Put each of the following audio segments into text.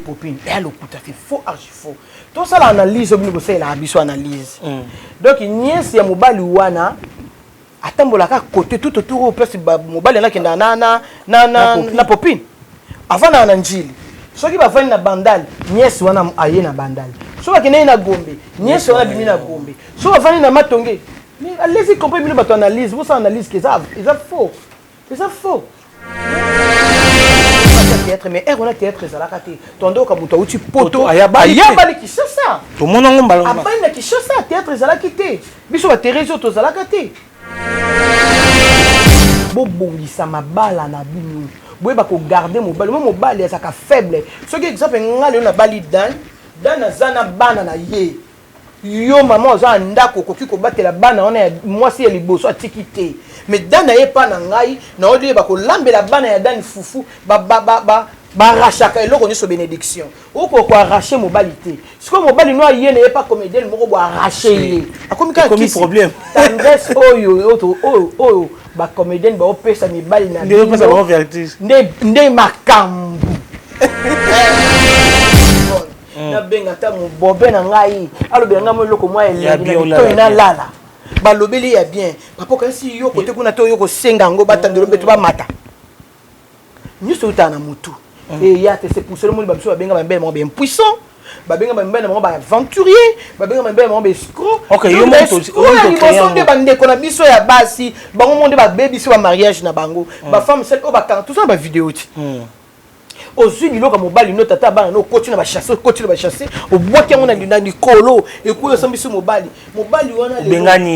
popine eya eh, lokuta te faux archi faux tosala analyse obini kosalelaka biso analyse mm. donc niese ya mobali wana atambolaka kote tout autour oyo place mobali yango akendaka na, na, na, na, na popine avandaka na njili soki bavandi na bandale niese wana aye na bandale soki akendaki na gombe niese wana abimi na gombe soki avandi na matonge mais allez-y compris bino bato analyse bosala analyse ke eza faux eza faux théâtre mais ère wana théâtre ezalaka te tondoka moto auti poto ayabani kishasa tomona ngo mbala abani na kishasa théâtre ezalaki te biso baterese oyo tozalaka te bobongisa mabala na bino boyeba kogarde mobali mo mobali azalaka faible soki exemple ngai lelo nabali dan dan aza na bana na ye Yo maman oza na ndaku okoki kobatela bana wana ya mwasi ya liboso atiki te mais dani aye epa na ngai naoli ye bakolambela bana ya dani fufu ba ba ba ba barachaka eloko nioso benediction oko ko arrache mobali te sikoyo mobali no aye na ye epa comedienne moko bo arrache ye akomi kaka kisi problème tendresse oyo oyo oyo oyo ba comedienne bao pesa mibali na bino nde nde makambu hmm. nabenga ata mobobe na ngai alobela ngai mo eloko mwa elengi na bitoi nalala balobeli ya bien papa okanisi yo kote kuna to yo kosenga yango batandelo mpe to bamata nyonso eutaka na motu hmm. eya te se pousse lomoni bamiso babenga bambele moko baimpuissant babenga bamibali na bango baaventurier babenga bamibali na bango baescroescroyaliboso nde bandeko na biso ya basi bango mo nde babebisi bamariage na bango bafemme sel oyo bakanga toza na bavideo ti ozwi biloko ya mobali no tata ya bana no okoti na bachasse okoti na bachasse obwaki yango na likolo ekoyi osambisi mobali mobali wana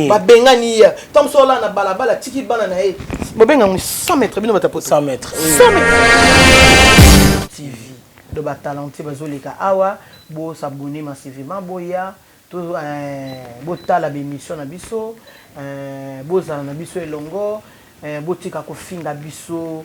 babengani ye ntango mosusu olaa na balabala atiki bana na ye bobenga yango 100 mètre bino batapo 100 mètre 100 mètre tv do batalentier bazoleka awa bosabone masivema boya To eeh botala b'emission na biso eeh bozala na biso elongo eeh botika kofinga biso.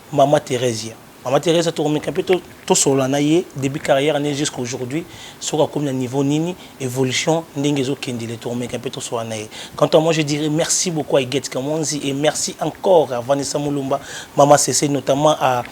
Maman Theresia maman Theresia tokomeka pe tosolola na ye debut carrière ne jusqu'à aujourd'hui soki akomi na niveau nini evolution ndenge ezo kendele tokomeka pe tosolola na ye quant à moi je dirai merci beaucoup à Huguette Kamonzi et merci encore à Vanessa Mulumba maman Sese notamment à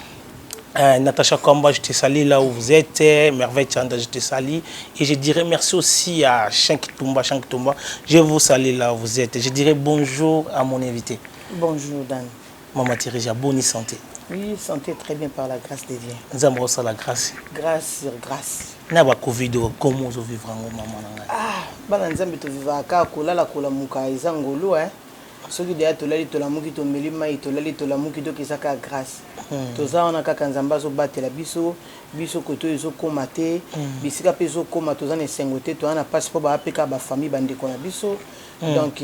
Euh, Natacha Kamba, je te salue là où vous êtes. Euh, Merveille Chanda, je te salue. Et je dirais merci aussi à Shank Tumba, Shank Tumba. Je vous salue là où vous êtes. Je dirais bonjour à mon invité. Bonjour, Dan. Maman Thérèse ya boni santé? Oui, santé très bien par la grâce de Dieu. Nzambe osala grâce. Grâce sur grâce. Na ba Covid oyo comment ozo vivre yango maman na ngai? Ah, bana Nzambe to vivaka kaka kolala kolamuka eza ngolu hein. Soki deja tolali tolamuki tomeli mai tolali tolamuki donc eza kaka grâce. Toza wana kaka Nzambe azo batela biso, biso koto ezo koma te, bisika pe ezo koma toza na esengo te, toza na pasi po ba pe kaka ba famille ba ndeko na biso. Mm. donc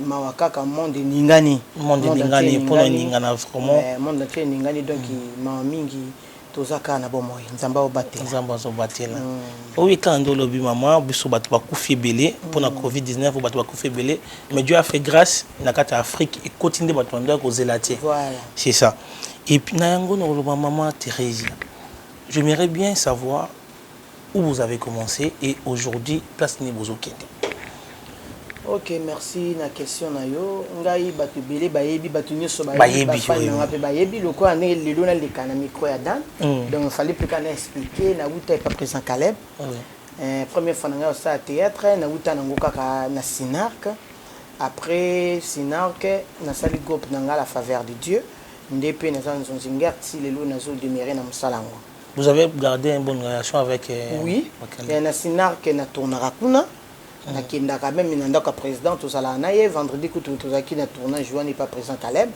mawa kaka monde eningani monde eningani mpo na eningana vraiment eh, monde entier eningani donc mm. mawa mingi toza kaka na bomoi nzambe aobatela nzambe azobatela mm. oyebi kaka nde olobi mama biso bato bakufi ebele mpo na covid 19 oyo bato bakufi ebele mais dieu a fait grâce na kati ya afrique ekoti nde bato bando ya kozela te c'est ça epuis na yango nakoloba mama thérésia j'aimerais bien savoir Où vous avez commence et aujourd'hui place nini bozo kende? Ok merci na question na yo ngai batu ebele bayebi batu nioso bayebi ba fan na nga pe bayebi lokola ndenge lelo na leka na micro ya Dan mm. donc fallait pe ka na expliquer na wuta epa president Caleb mm. eh, première fois na ngai osala théâtre na wuta na ngo kaka na Sinarc après Sinarc na sali groupe na nga la faveur de Dieu nde pe naza nzonzi ngerti lelo nazo demeurer na mosala yango Vous avez gardé une bonne relation avec euh, Oui, mais na Sinar que na tournaka kuna. Mm. Nakendaka même na ndako ya président tozalaka na ye vendredi kutu tozalaki na tournage wana epa président Caleb.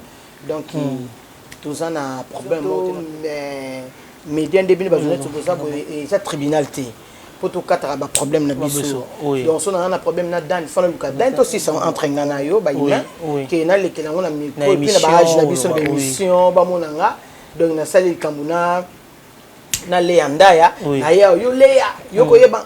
Donc mm. toza na problème moko mais média nde bino bajournaliste toza mm. boye eza tribunal te mpo tokataka baproblème na biso donc so naza na problème na dani fana luka dani tosisa entre nga na yo bayina ke nalekela yango na micro epuis na baage na biso na baémission bamona nga donc nasali likambo na na leya ndaya Oui. na ya yo leya yo koyeba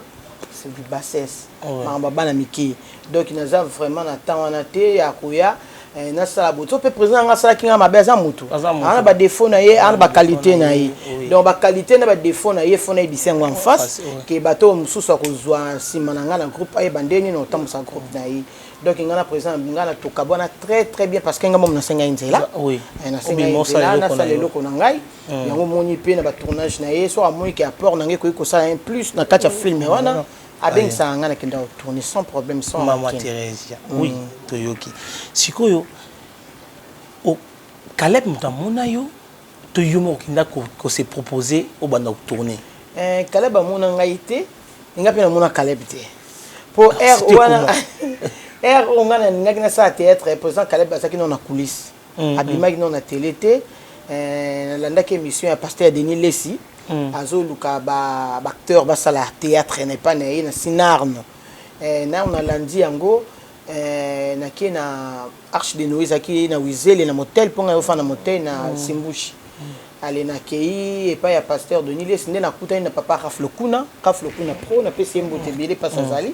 c'est du bassesse Ouais. makambo ya bana mike donc naza vraiment na temps wana te ya koya eh, nasala boye so mpe président yanga asalaki nga mabe aza motu Aza motu. ana badefaut na ye ana baqualité na ye Oui. donc baqualité na badefaut na ye fo nayebisa yango en face face, ouais. ke bato oyo mosusu akozwa nsima na ngai na groupe ayeba nde nini otambusa groupe na ye donc nga na president nga na toka bwana très très bien parce que nga moom nasengai nzela ah, oui. Eh, nasengai nzela nasala eloko na ngai hmm. yango omoni mpe na batournage na ye soki amoni ke apport na ngai ekoki kosala un plus na kati ya film hmm. wana ah, abengisaka ngai nakenda kotourne sans problème sans mama Theresia hmm. oui toyoki sikoyo Caleb moto amona yo To yo moko kenda ko se proposer obanda ko tourner. Eh Caleb amona ngai te et ngai pe na mona Caleb te. Po heure wana heure oyo ngai nalingaki nasala theatre president Caleb azalaki nao na coulisse. Abimaki nao na tele te. Eh nalandaki emission ya pasteur Denis Lessi azoluka ba acteurs basala theatre na epai na ye na Sinarn. Eh nao nalandi yango Eh, na kie na Arche de Noé ezalaki na Wizele na motel mpo ngai ofanda motel na mm. Simbushi. Mm. ale nakei epai ya pasteur denis lesi nde nakutani na papa rafle kuna rafle kuna pro napesi ye mbote ebele mpasi mm. azali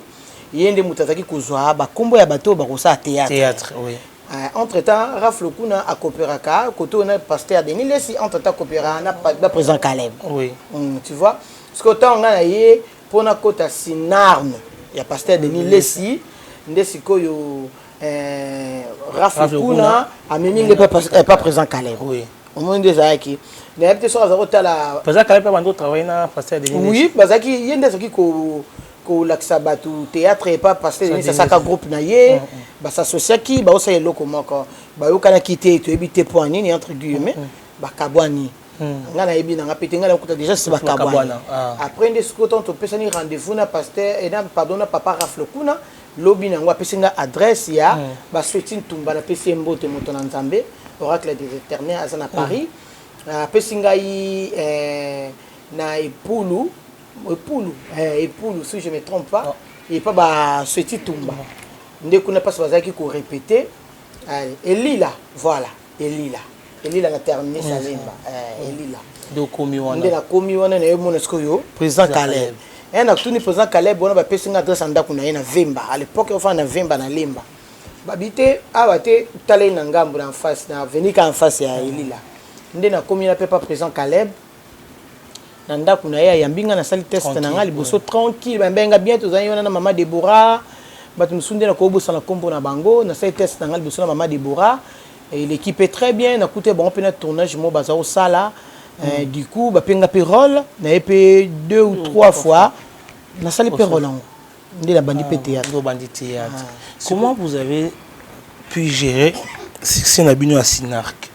ye nde moto azalaki kozwa bakombo ya bato oyo bakosala théâtre oui. Uh, entre temps rafle kuna akooperaka kote oyo na pasteur denis lesi entre temps akooperaka na, na président caleb oui. mm, tu vois sikoyo ntango ngai na ye Po na kota cinarme ya pasteur Denis lessi nde sikoyo eh, Raph Lukuna amemi nde eh, pa president Caleb oui. omoni nde ezalaki nayebi te soki azali kotala president Caleb abandi kotravaille na pasteur Denis oui bazalaki ye nde azalaki ko kolakisa bato théâtre epa pasteur Denis asaka groupe na ye mm, mm. basasosiaki baosala eloko moko bayokanaki te toyebi te mpo ya nini entre guillemets mm, bakabwani Hmm. nga nayebi nanga pete nga nakuta déjà si bakabwana ah. après nde soki otango topesani rendez-vous na pasteur eh, na pardon na papa rafle kuna lobi na yango apesi nga adresse ya hmm. basweti ntumba napesi ye mbote moto na nzambe oracle des éternel aza na paris hmm. ah, apesi ngai eh, na epulu epulu eh, epulu si je me trompe pas oh. epa basweti tumba nde kuna mpasi bazalaki korepete elila voilà Elila elila na termine salemba eh, elila nde okomi wana nde nakomi wana naye omona sikoyo président caleb e natuni président caleb wana bapesi nga adresse ya ndako na ye na vemba à l'époque ofanda na vemba na lemba babi te awa te tala ye na ngambo na face na avenue ka en face ya elila nde nakomi na pepa président caleb na ndako na ye ayambi nga nasali test na nga liboso tranquille bayambi nga bien tozali wana na mama debora bato mosusu nde nakobosana nkombo na bango nasali test na nga liboso na mama debora eleki mpe très bien nakuta bango mpe na tournage moko baza kosala eh, mm. du coup bapenga mpe role naye mpe deux ou mm, trois fois nasali mpe role yango nde nabandi mpe ah, théâtre obandi théâtre ah. comment vous avez pu gérer succès na bino ya sinarque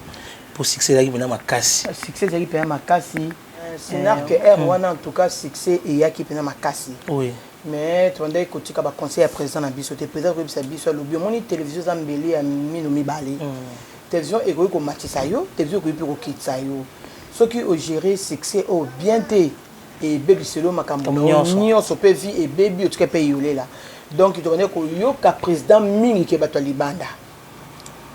mpo succès ezalaki mpena makasi ah, succès ezalaki mpena makasi euh, sinarque eh, aire hmm. wana en tout cas succès eyaki mpena makasi oui mais tobandaki kotika baconseil ya président na biso te président koyebisa biso alobi omoni télévision eza mbeli ya mino mibale hmm. télévision ekoki komatisa yo télévision ekoki mpe kokitisa yo soki ogere succès oyo oh, bien te ebebiselo makambo nionso pe vie ebebi otika pe yolela donc tokende koyoka president mingi ke bato ya libanda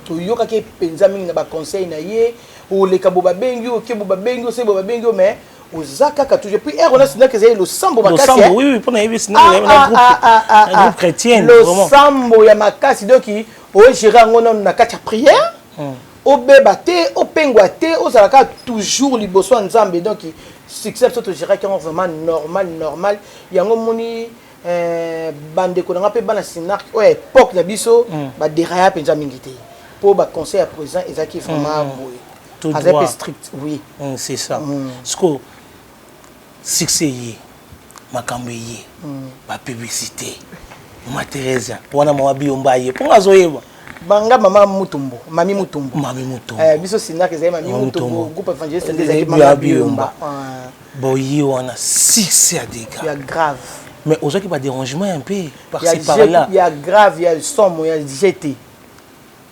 toyokaki ye mpenza mingi na baconseil na ye oleka bo babengi yo oke bo babengi yo se bo babengi yo mais oza kaka toujours puis ero na sinaki ezali losambo makasi losambo ya makasi donc ogere yango nano na kati ya prière Obeba te, opengwa te, ozala kaka toujours liboso ya Nzambe donc succès biso to geraki yango vraiment normal normal yango omoni eh, bandeko na nga mpe bana Cinarc oyo ya epoque na biso mm. ba deraya mpenza mingi te mpo ba conseil ya président ezalaki vraiment mm. boye azali mpe strict oui mm, c'est ça mm. siko succès ye makambo eye ba publicité mama Theresia wana mama biyomba aye mpo nga azoyeba banga mama mutumbo mami mutumbo mami mutumbo eh, biso sinaka ezali mami mutumbo groupe evangeliste ezali mama biyomba ah. boye wana succès ya dega ya grave mais ozwaki badérangement ya mpe parci par là ya grave ya somo ya jete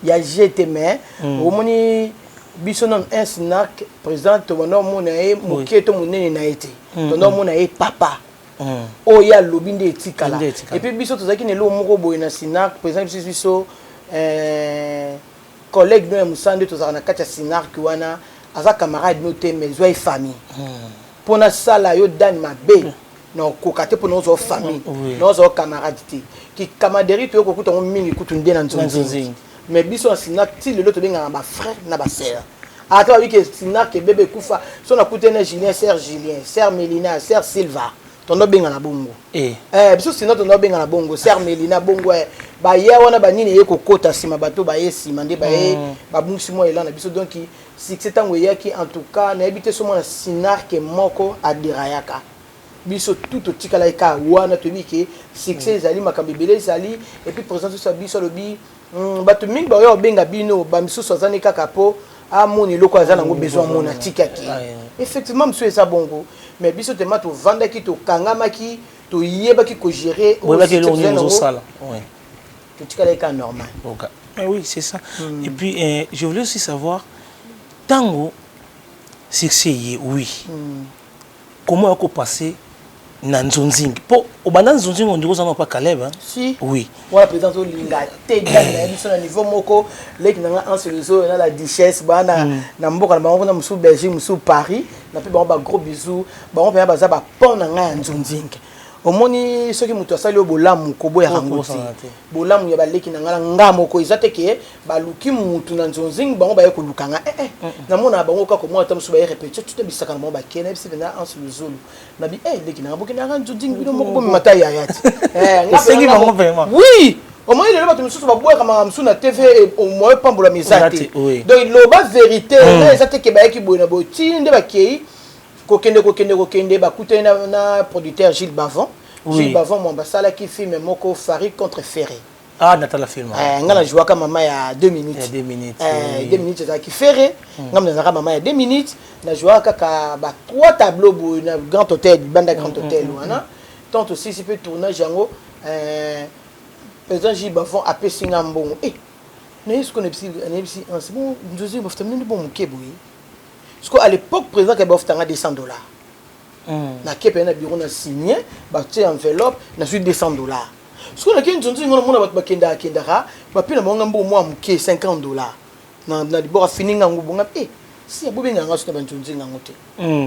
ya jeu te mais omoni biso nanu un snack président tobanda omona ye moke to monene na ye te tobanda omona ye papa oyo ye alobi nde etikala epuis biso tozalaki na eloko moko boye na snack président biso biso collègue no ya mosala nde tozalaka na kati ya snack wana aza camarade no te mais zwa ye famille mpo nasala yo dani mabe na okoka te mpo naozwa famille naozwa camarade te kicamaderie toyo kokuta yango mingi kutu nde na nzonzingi mais biso na sinak ti lelo tobengaka bafrère na basere ata babi ke sinak ebebe ekufa so nakute na julien ser julien ser melina ser silva tondo bengana bongo eh. eh, biso sina tondo bengana bongo ser melina bongo eh. baya wana banini eye kokota nsima bato baye nsima nde baye mm. babungisi mwa elana biso donki Succès tango eyaki en tout cas nayebi te soki mwana cinarc moko a derayaka. Biso tout totikalaki kaka wana toyebi ke succès ezali makambo ebele ezali et puis president soso ya biso alobi hum batu mingi bakoya kobenga bino ba misusu aza nde kaka po amona eloko oyo aza nango besoin amona atiki akei. Effectivement misusu eza bongo mais biso tellement tovandaki tokangamaki toyebaki ko gerer oyo succès tozali nango. totikala eka normal oka eh oui c'est ça mm. et puis eh, je voulais aussi savoir tango succès ye oui mm. comment ako passer na nzonzingi mpo obanda nzonzingi ondiko ozanga mpa caleb si. oui wana mpenza azolinga te dame na ye biso na niveau moko leki na ngai anse lezo na la duchesse baa na, mm. na mboka na bango kuna mosusu belgique mosusu paris na mpe bango bagros bisou bango mpenza baza bapon na ngai ya nzonzingi omoni soki moto asali yo bolamu koboyaka oh, ngo te bolamu ya baleki na ngai na nga moko eza te ke baluki motu na nzonzingi bango baye koluka nga ee eh, eh. namonaka bango kaka komona ata mosusu baye repetition tuta bisaka na bango bakena yebisi mpenza anse luzulu na bi e leki na nga bokendaka nzonzingi bino moko bomema ta yaya te esengi bango vraiment oui omoni lelo bato mosusu babwaka makambo mosusu na tv moye pambolama eza te donc loba verité hmm. eza te ke bayaki boye na boye ti nde bakei Kokende kokende kokende bakutani na, na producteur Gilles Bavon. Oui. Gilles Bavon mwamba asalaki film moko Farid contre Ferre. Ah, natala film. Eh, nga na jouaka mama ya 2 minutes. Ya 2 minutes. Eh, 2 minutes ezalaki Ferre. Mm. Nga nazalaka mama ya 2 minutes. Na jouaka kaka ba trois tableaux boye na Grand Hôtel, banda Grand mm, Hôtel mm, mm, wana. Mm, mm. Tant aussi si peut tournage yango euh président Gilles Bavon apesi nga mbongo. Eh, nayebi soki nayebisi nayebisi ah, c'est bon nzozi bafuta mino nde bon moke boye Sikoyo à l'epoque président Kabila ofutanga 200 dollars. Na kepe na bureau na signer, ba tie enveloppe, na suis 200 dollars. Sikoyo na kende nzonzo ngona mona bato bakendaka kendaka, ba pela bango nga mbongo mwa moke 50 dollars. Na na libora fini nga ngubu nga eh si abobe nga nga sona ba nzonzo nga ngote.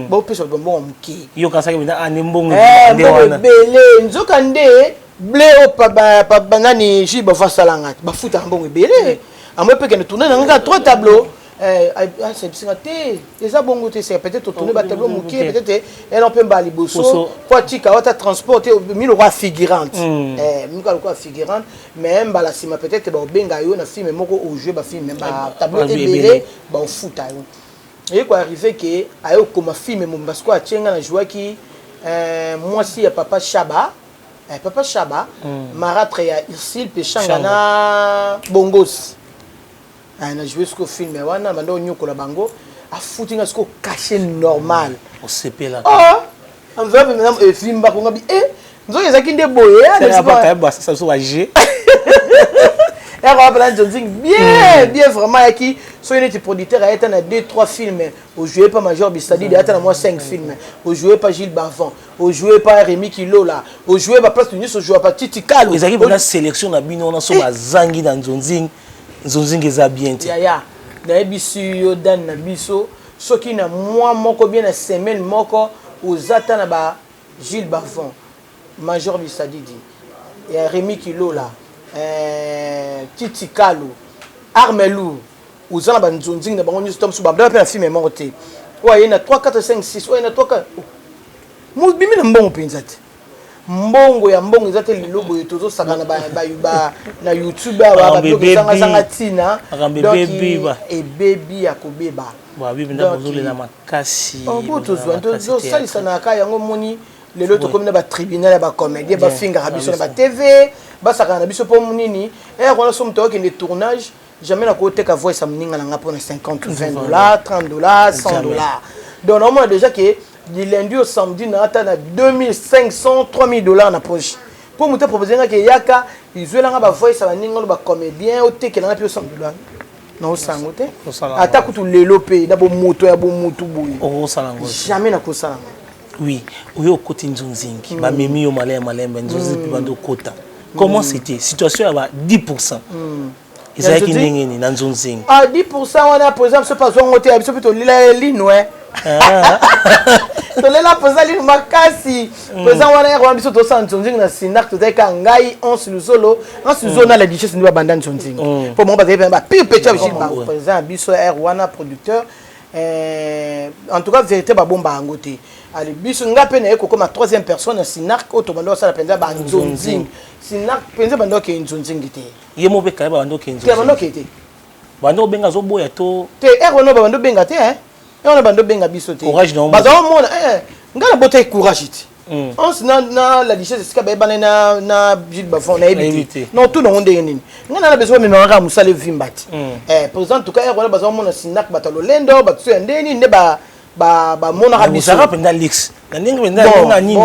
Ba opesa ba mbongo moke. Yo kasaki bina ah ne mbongo eh, nde wana. Bele nzoka nde ble o pa ba pa nani ji ba vasala nga. Ba futa mbongo bele. Amwe peke na tourner na nga trois tableaux. Eh, asa ah, bisinga te eza bongo te seka peut-être otoni batablo moke peut-être ena mpe mbala liboso mpo atika wata transport te mi lokola figurante hmm. eh, mika lokola figurante mais mbala nsima peut-être baobenga yo na filme moko ojoue bafilme batablo eh, ebele baofuta yo eye koarrive ke aye okoma filme mobimba sikoyo atie nga na jouaki mwasi ya papa shaba papa shaba hmm. maratre ya ursile peshanga na bongosi Ah, na joue siko film ya wana banda onyokola bango afuti nga siko cache normal osepela ah, enveloppe maintenant evimba konga bi eh nzoki ezalaki nde boye eh, yaka wapela nzonzing bien hmm. bien vraiment yaki soki neti producteur ayeta na 2 3 film ojoue pa major bisadide ayata na mwa 5 film ojoue pa gilles bavant ojoue pa rémi kilola ojoue baplace nyonso ojoua pa titi kalo ezalaki mpona sélection na bino wana so eh. bazangi na nzonzing nzonzinga eza bien te yaya nayebisi yo dani na biso soki na mwa moko bien na semaine moko oza ata na ba jules bavon major bisadidi ya remi kilola eh, titi kalu armelu oza na banzonzingi na bango nyonso ta mosusu babdala mpe na filme moko te oyo aye na 3 4 5 6 oyo aye na 3 4 mobimi na mbongo mpenza te Mbongo ya mbongo eza te lelo boye tozo sakana ba ba ba na YouTube awa ba Makambo biloko ebebi. ezanga zanga tina. Makambo Donc, ebebi, ba- Ebebi ya kobeba. Ba bibi nda Donc, bozolela makasi. Oh, bo bozolela tozwa nde makasi theatre. tozosalisana kaka yango omoni lelo Sikoyo. tokomi na batribunal ya bacomédien bafingaka biso na batv basakana na biso mpo nini ere wana so moto akokende tournage Jamais na ko teka voice ya muninga na nga pona 50 ou 20 dollars, 30 dollars, 100 dollars. Donc na mona déjà que du lundi au samedi na ata na 2500, 3000 dollars na poche. Po muta proposer nga ke yaka izuela nga ba voice ya ba ninga ba comédien o tekela nga pi 100 dollars. Na osango te. Ata kutu lelo pe na bo moto ya bo mutu boye. O osango. Jamais na ko sala nga. Oui, oyo okoti nzunzingi, mm. ba memi yo malaya malembe nzunzingi mm. bando kota. Comment mm. c'était situation ya ba 10%. Mm. ezalaki ndenge nini na nzunzingi ah 10% wana président biso mpe azwango te ya biso mpe tolela ye lino e ah. tolela mpenza lino makasi mpenza mm. wana yaka wana biso tosala nzonzingi na sinak tozalaki kaka ngai anse luzolo anse luzolo mm. na la duchesse nde babanda nzonzingi mpo mm. bango bazalaki mpenza bapire peti ya biso mpenza biso r wana producteur Eh, en tout cas verite babomba yango te ali biso nga mpe naye kokoma troisième personne ya sinark oyo tobanda kosala mpenza banzonzing sinark mpenza banda okei nzonzingi te ye mo mpe kaye babanda okei nzonzingi banda okei te banda obenga azoboya to te ere wana babanda obenga te ere wana banda obenga biso te courage na yo bazala omona eh, nga na botaki courage te Mm. Hans na na la lichesse esika ba ebana na na Gilles Bafon na ebiti. Non tout nango ndenge nini. Nga na besoin meme nga musale vimba ti. Mm. Eh par exemple tuka yako na bazo mona sinak batalo lendo batso ya ndeni ne ba ba ba mona ka biso. Musaka penda lix. Na ndenge penda nga nini.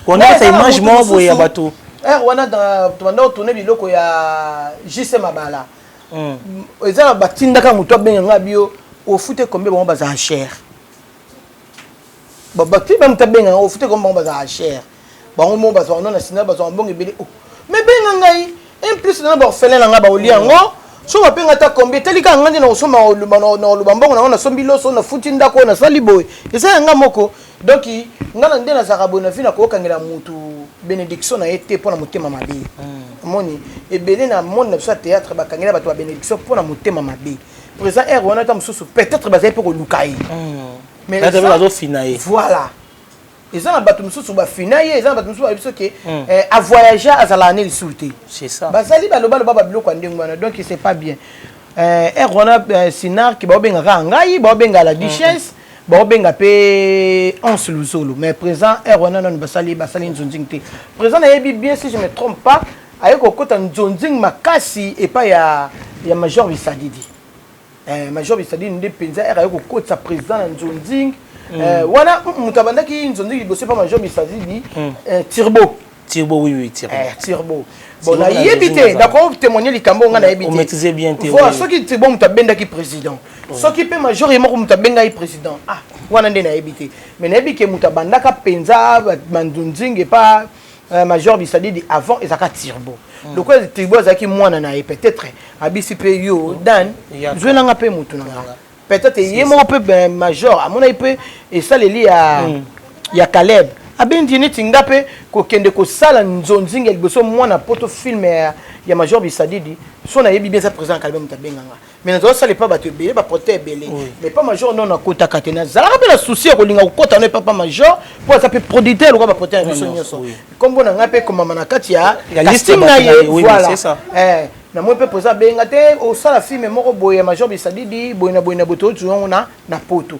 Ko na sa image mo boye ya bato. Eh wana dans to banda tourner biloko ya JC Mabala. Mm. Eza batindaka moto abenga nga bio ofute combien bango baza cher. bafi bamuta benga yango ofute komi bango bazalaka cher bango moko bazwaka no na sina bazwaka mbongo ebele oh, me benga ngai un plus nana baorphelin na ngai baolia yango oh. soba mpe ngai ata kombi etali kaka ngai nde nakosomba nakoloba mbongo na yango nasombi loso nafuti ndako oyo nasali boye eza ya ngai moko donk ngai na nde nazalaka boye na vi nakokangela motu bénédiction na ye te mpo na motema mabe hmm. omoni ebele na monde na biso ya théâtre bakangela bato ba bénédiction mpo na motema mabe présent aire wana ata mosusu peut-être bazali mpe koluka ye hmm. Mais Kaka pe eza- bazo fina ye. voilà eza na bato mosusu bafina ye eza na bato mosusu bayebi so ke Mm. eh, avoyage azalaka ne lisusu te C'est ça. bazali balobaloba babiloko ya ndenge wana donc c'est pas bien Eh, ere wana eh, sinark baobengaka kaka ngai baobenga la duchesse baobenga mpe anse luzolo mais présent ere wana nano basali basali nzonzing te présent nayebi bien si je me trompe pas aye kokota nzonzing makasi epai ya, ya major bisadidi Eh, major bisadini nde mpenza ere aye kokotisa président na nzonzing mm. eh, wana mm, moto abandaki nzonzing liboso epa major bisadini mm. eh, tirbo tirbo oui, oui, tirbo. Eh, tirbo bon nayebi te nakotémoigne likambo nga nayebi te voi soki tirbo moto abendaki président soki mpe major ye moko moto abengaki président ah wana nde nayebi te mais nayebi ke moto abandaka mpenza manzonzing epa Euh, major bisadidi avant ezalaka turbo mm. lokola turbo azalaki mwana na ye peut-être abisi mpe yo oh, dan zwelanga mpe motu na nga peut-être ye moko mpe ben, major amonaki mpe esaleli ya, mm. ya caleb abendi neti nga mpe kokende kosala nzonzingi ya liboso mwana poto filme ya, ya major bisadidi so nayebi bien eza président ya caleb moto abenganga mais nazalaki sala epa bato ebele baproteta ebele mais pa major no nakotaka te nazalaka mpe na souci ya kolinga kokota no epa pa major mpo aza mpe producteur lokola baproteta na biso nyonso nkombo na ngai mpe ekomama na kati ya casting na ye voilà eh, namoni mpe mpoza abenga te osala filme moko boye ya major bisadidi boye na boye na boye toyoti yango na poto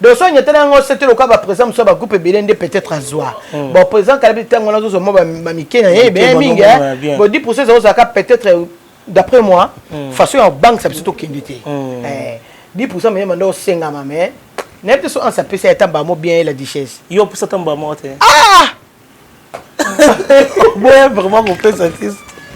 doso anyatana yango osete lokola bapresident mosusu ya bagroupe ebele nde peut-être azwa hmm. bon président kalabi ntango wana azozwa mwa bamike na ye ebele mingi bo 10 pourcent ezalaki ozalaka peut-être euh, d'après moi hmm. façon ya kobangisa biso tokende te 10 hmm. eh, pourcent meyema nde osengama mais nayebi te so ansa apesa ya tamba mo bien ye la duchesse yo opesa tamba mo te ah! boya vraiment kopesa te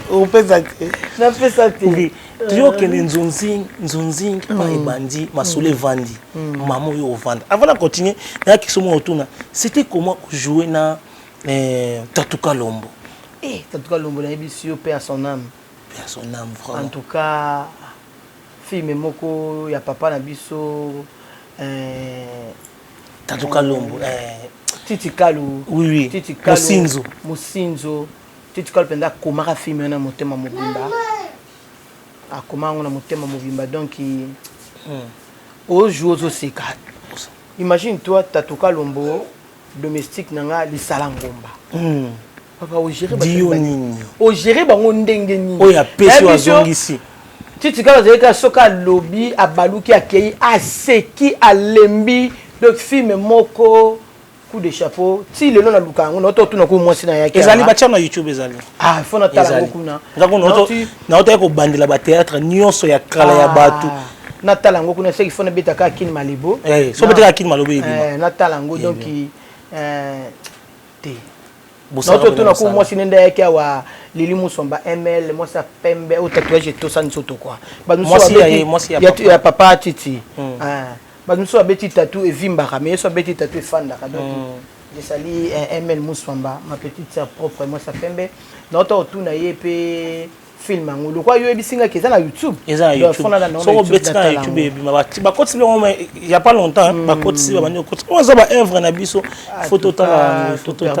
opesa te napesa te euh. toujours okende nzunzing nzunzing pa mm. ebandi masolo mm. evandi mm. mama oyo ovanda avant na continue nayaki somo otuna c'était comment kojouer na euh, tatuka lombo eh, tatuka lombo nayebisi yo pe à son âme pe à son âme vraiment en tout cas filme moko ya papa na biso euh, Tatu Kalombo eh. Titi Kalu. Oui oui. Titi Kalu. Mosinzo. Mosinzo. Titi Kalu penza akomaka film na motema mobimba. Akoma yango na motema mobimba donc hmm. ojo ozoseka. Imagine toi Tatu Kalombo domestique na nga lisala ngomba. Hmm. papa ogere dio nini ogere bango ndenge nini oyo apesi oyo azongisi titi kaka azali kaka soki alobi abaluki akei aseki alembi donc filme moko coup de chapeau ti lelo naluka yango naoto otuna ko mwasi na yaki ezali batya na youtube ezali ah fo natala yango kuna naotaki kobandela bateatre nyonso ya kala ya ah, bato natala yango kuna seki fo nabeta kaka kini malibo eh, so betaka kini malobo ebima eh, natala yango donc eh, te naoto tuna ko mwasi nende ayaki awa lili musomba ml mwasi ya pembe oyo tatouage etosa nzoto kua ya papa titi hmm. ah, bato mosusu babeti tatu evimbaka mais yesu abeti tatu efandaka donc hmm. ezali eh, ml musomba ma petite sœur propre mwasi ya pembe naoto otuna ye mpe film yango lokola yo oyebisi ngai eza na youtube eza na youtubesoko obeti na youtube ebima bakotisi biloko ya pas longtemps hmm. bakotisi babandi kokotisa oyo eza baœuvre na biso ah, fo totala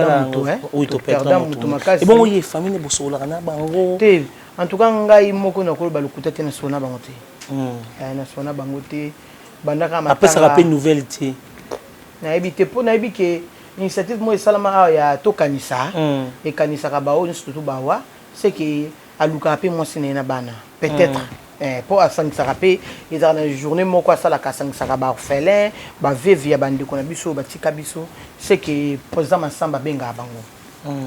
yango oyo toperdre motu ebongo ye famille bosololaka na bango te en tout cas ngai moko nakoloba lokuta te nasolo na bango te hmm. eh, nasolo na bango te bandaka apesaka mpe nouvelle te nayebi te mpo nayebi ke initiative moko esalama awa ya tokanisa hmm. ekanisaka baoyo nyonso tutu bawa ce que alukaka pe mwasi na ye na bana peut etre eh, po asangisaka pe ezaka na journee moko asalaka asangisaka ba orphelin ba veuve ya bandeko na biso oyo batika biso ce que president masamba abengaka bango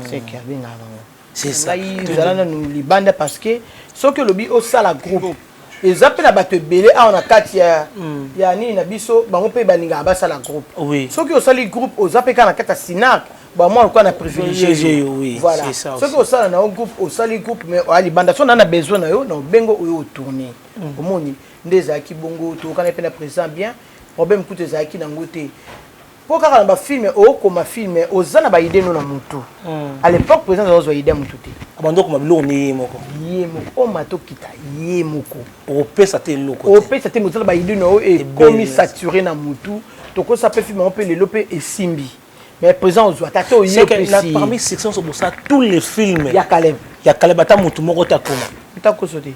ce que abengaka bango ngai zala nanu libanda parce que soki olobi osala groupe eza mpe na bato ebele awa na kati ya, mm. ya nini na biso bango mpe balingaka basala groupe oui. soki osali groupe oza mpe kaka na kati ya sinac bamwa lokola na privilégié yo oui, voilà soki osala na yo groupe osali groupe mais oya libanda so na na besoin na yo na obengo oyo otourne mm. omoni nde ezalaki bongo toyokana mpe na président bien problème kutu ezalaki nango te Po kaka na ba film okoma film oza na ba idee no na mutu a l'epoque president aza kozwa idee ya mutu te. Abandi okoma biloko nde ye moko. Ye moko omata to kita ye moko. Okopesa ata eloko te. Okopesa te mais oza na ba idee na yo ekomi sature na mutu tokosa pe film yango pe lelo pe esimbi mais president ozwa ata te oye opesi ye. C'est que parmi succès nionso bosala tous les films ya caleb ya caleb ata mutu moko te akoma. Ata koso te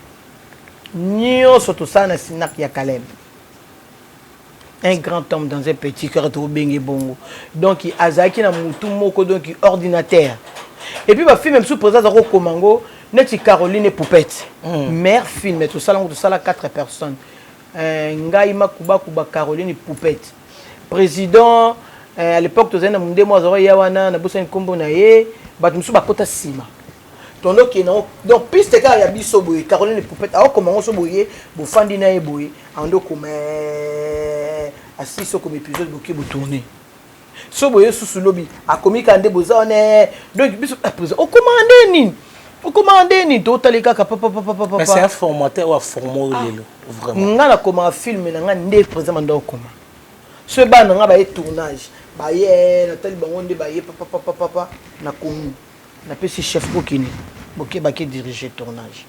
nionso tosala na cinaq ya caleb. un grand homme dans un petit cœur tokobenge bongo donc azalaki na mutu moko donc ordinateur epuis bafilme mosusu présa aza kokoma yango neti caroline epoupete mm. mare filme tosala yango tosala 4 personnes euh, ngai makubakuba caroline poupete président euh, à l'époque tozali na mondemo azalaki ya wana nabosani nkombo na ye bato mosusu bakota nsima Tondo kie nango donc piste kaka ya biso boye Caroline Poupette awa koma ngo so boye bofandi na ye boye ando koma eh, asi so koma épisode boki botourner so boye susu lobi akomi kaka nde boza wana eh. donc biso eh, président okoma nde nini okoma nde nini totali kaka papapapapapasa formateur oyo aforma oyo ah. lelo vraiment ngai nakomaka filme na ngai nde président manda okoma so ebana na ngai baye tournage baye natali bango nde baye papapapapapa na komi Na pesi chef ko kende bo keba ke dirige tournage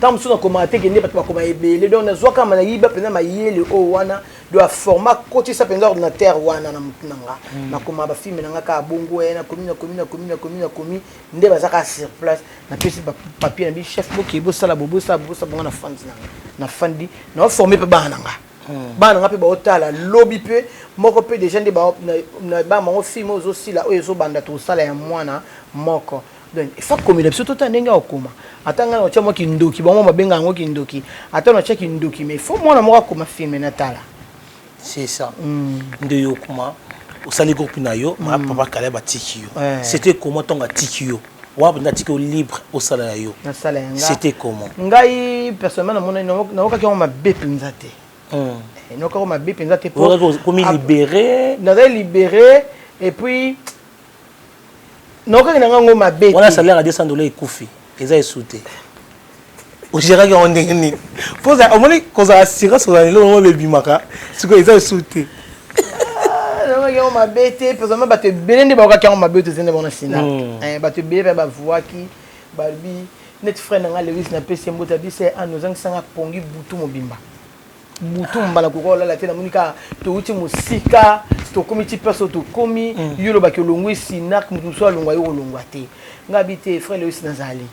tango mosusu nakomaka te kende bato bakoma ebele donc nazwaka ma nayiba mpenza mayele oyo wana do aforma kotisa mpenza ordinateur wana na motu na nga hmm. nakoma bafilme na nga kaka bongo e nakomi nakomi nakomi nakomi nakomi nde baza kaka sur place napesi papier na bi chef boke bosala bobosala bobosala bonga na fandi na nga na fandi naoforme mpe bana na nga bana nga mpe baotala lobi mpe moko mpe deja nde na bana bango filme oyo ezosila oyo ezobanda tokosala ya mwana moko donc efa komela biso tota ndenge ya kokoma ata ngai naotya mwa kindoki bango babenga yango kindoki ata natya kindoki mais fo mwana moko akoma filme natala c'est ça mm. nde yo okoma osali groupe na yo mm. papa kala batiki yo eh. c'était comment ntongo atiki yo Wap nde atiki yo libre osala ya yo nasala ya nga c'était comment ngai personnellement namonani naokaki yango mabe mpenza te hmm. eh, naokaki yango mabe mpenza te komi libere nazali libere et puis naokaki na ngai yango mabe wana salaire ya 200 dola ekufi eza esu te ogeraki yango ndenge nini mpo omoni kozala assurance kozala eloko yango bebimaka sikoyo eza esu te ah, yango mabe te pesama bato ebele nde baokaki yango mabe toza nde bona sina hmm. eh, bato ebele mpe bavuaki balobi neti frère na ngai lewis napesi ye mbote abisa ye ana ozangisanga pongi butu mobimba butu mbala kokoka olala te namoni kaka touti mosika tokomi ti place oyo tokomi hmm. yo olobaki olongwe sinak moto mosusu alongwa yo kolongwa te ngai bi te frère lewis nazali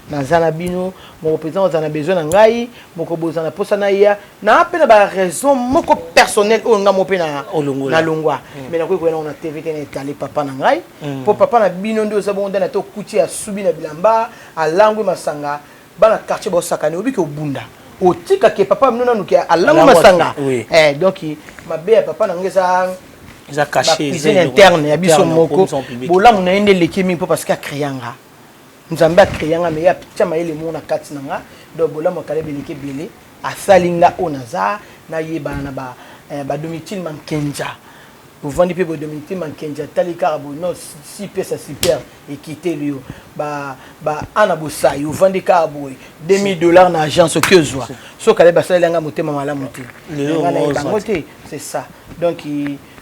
Naza na bino moko president ozala na besoin na ngai moko bozala na posa na ya na pe na ba raison moko personnel oyo nga mo pe na na longwa mm. mais na koyi koya na TV te na etale papa na ngai mm. po papa na bino ndio oza bongo ndana to kuti asubi na bilamba alangwe masanga bana quartier ba sakane obiki obunda otika ke papa mino nanu ke alangwe masanga eh donc mabe ya papa na ngai eza eza caché cuisine interne ya biso moko bolamu na ye nde eleki mingi po parce que akreya nga Nzambe a crea nga mais ye atia mayele moko na kati na nga donc bolamu ya Caleb eleki ebele asali nga oyo naza nayebana na ba ba Domitille Mankenja bovandi pe boye Domitille Mankenja atali kaka boye non si pe sa super ekiteli yo ba ba Anna Bosayi ovandi kaka boye 2000 dollars na agence oke ozua so Caleb asaleli nga motema malamu te nga nayebi bango te c'est ça donc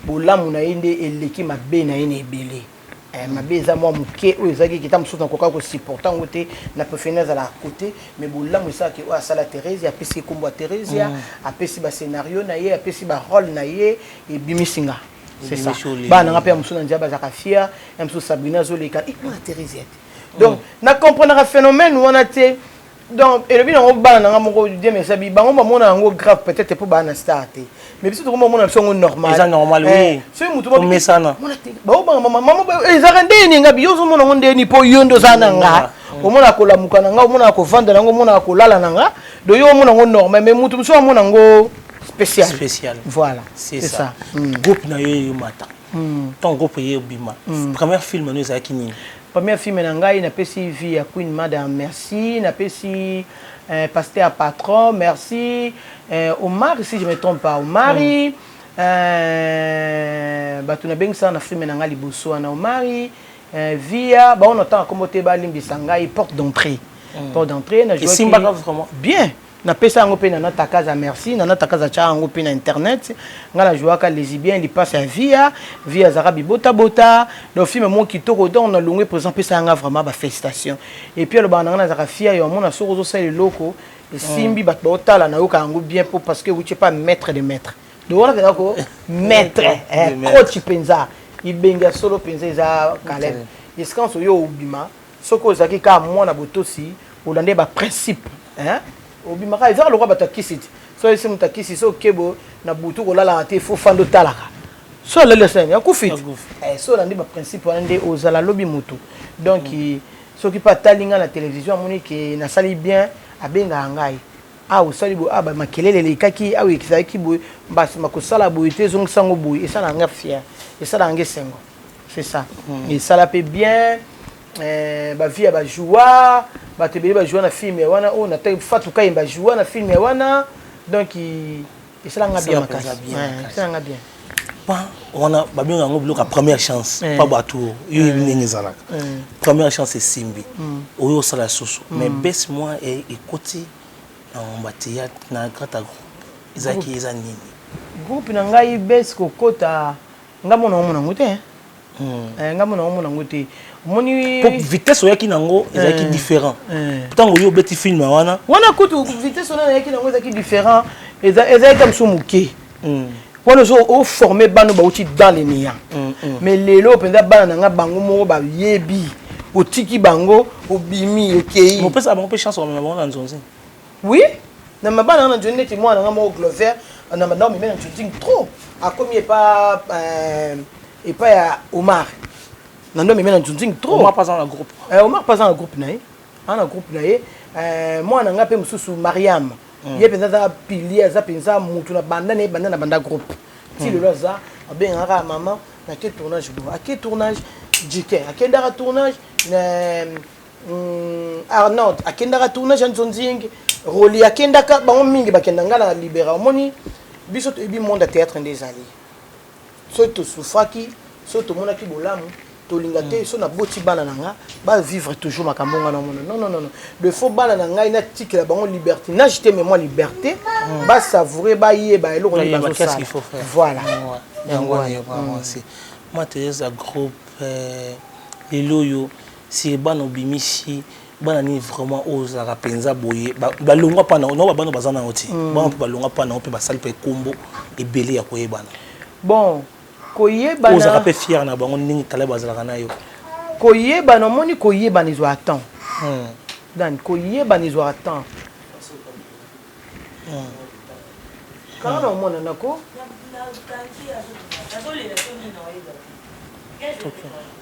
bolamu na ye nde eleki mabe na ye na ebele Eh, mabe eza mwa moke oyo ezalaki kita mosusu nakoka kosupporte yango te na prefere nazala à côté mais bolamu esala ke oyo asala therese apesi ekombo ya theresia mm. apesi bascenario na ye apesi barole na ye ebimisi nga c'est ça bana nanga mpe ya mosusu na nzela bazalaka fier ya mosusu sabrina azoleka ikona eh, theresiate donc mm. na comprenaka phénomène wana te donc elobi nango bana nanga moko diam ya sabi bango bamona yango grave peut-être mpo bana star te mais biso tokoma omona biso yango normal eza normal oui eh, soki motu omesana baobanga mama mama eh, ezalaka nde eni ngabi yo ozomona yango nde eni mpo yo nde oza na nga mm. Mm. omonaka kolamuka na nga omonaka kovanda na nga omonaka kolala na nga do yo omona yango normal mais motu mosusu amona yango spécial spécial voilà c'est ça mm. groupe na yo eyomata ton groupe eye obima première film no ezalaki nini Première film na ngai na pesi vie ya Queen Mada merci na pesi eh, pasteur patron merci eh, Omari si je me trompe pas Omari mm. Eh, bato nabengisaka na filme na ngai liboso wana omari eh, via bango natanga nkombo te balimbisa ngai porte d'entrée mm. porte d'entrée na esimbaka vraiment bien napesa yango mpe nana takaza merci nana takaza atyaka yango mpe na internet ngai najouaka lesibien lipasa ya via via azalaka bibotabota donc filme moko kitoko donc nalongwe présent mpesa yanga vraiment bafélicitation epuis alobaka na ngai nazalaka fia yo amona soki ozosala eloko esimbi mm. bato baotala nayoka yango bien mpo parce que wutie pas maître de maître donc wana mpenza ko maître eh, coach mpenza ibenge ya solo mpenza eza kalem eskanso yo obima Soki ozalaki kaka mwana botosi olandaki ba principe hein obimaka ezaka lokola bato ya kisi ti so oyebisi moto ya kisi so oke boye na butu kolalaka te fo fanda otalaka so alali asalani akufi ti eh, so olandi ba principe wana nde ozala lobi moto donc mm. soki mpe atali ngai na televizio amoni ke nasali bien abengaka ngai awa ah, osali boye awa ah, bamakelele elekaki awa ah, ekisaki boye mbasi makosala boye te ezongisa yango boye esalaka ngai fiere esalaka ngai esengo c'est ça mm. esala mpe bien eh, bavie ya bajoua bato ebele bajoua na filme ya wana oyo oh, na fatu kaye bajoua na filme ya wana donc esalanga bien makasi esalanga bien pa wana babenga yango biloko ya première chance eh. pa bato oyo yo yebi eh. ndenge ezalaka eh. première chance esimbi mm. oyo osala lisusu mm. mais base moi ekoti na ngomba teyatre na grata groupe ezalaki eza nini groupe na ngai base kokota Nga mona omona ngo te hein. Hmm. Eh, nga mona omona ngo te. Omoni po vitesse oyaki nango ezalaki eh, différent. Eh. Tango yo obeti film wana. Wana kutu vitesse ona oyaki nango ezalaki différent. Eza ezalaki comme so moke. Hmm. Wana ozo o former bano bauti dans les néants. Hmm, Mais lelo penza bana nanga bango moko ba yebi. Otiki bango obimi okei. Mopesa bango pe chance omema bango na nzonzi. Oui, na mabana nga na joni neti mwana nga moko Glover na manda meme na joding trop akomi epa euh, epa ya Omar na ndo meme na joding trop Omar pas na groupe eh, Omar pas na groupe na ye ana groupe na ye euh, mwana nga pe mususu Mariam mm. ye penza za pilier za penza mutu na banda na banda na banda groupe ti mm. lelo za abengaka maman na ke tournage bo ake tournage jiken akendaka tournage na Hum, Arnold akendaka tournage ya nzonzing Rolly akendaka bango mingi bakenda nga na libera omoni biso toyebi monde ya théâtre nde ezali soki tosufraki soki tomonaki bolamu tolinga te so naboti bana na nga bavivre toujours makambo nga namona non non non de faut bana na ngai natikela bango liberté nage te mais mwa liberté mm. basavoure bayeba eloko nini bazosala voilà yango wana mwa teyeza groupe euh, lelo oyo Sir bana obimisi bana nini vraiment oyo ozalaka penza boye balongwa pa na ba bana baza na yo ti bana mpe balongwa pa na yo mpe basali mpe kombo ebele ya koyebana bon koyebana ozalaka mpe fier na bango ndenge kala bazalaka na yo koyebana omoni koyebana ezwaka temps hmm. dan koyebana ezwaka temps hmm. kala na omona nako Okay.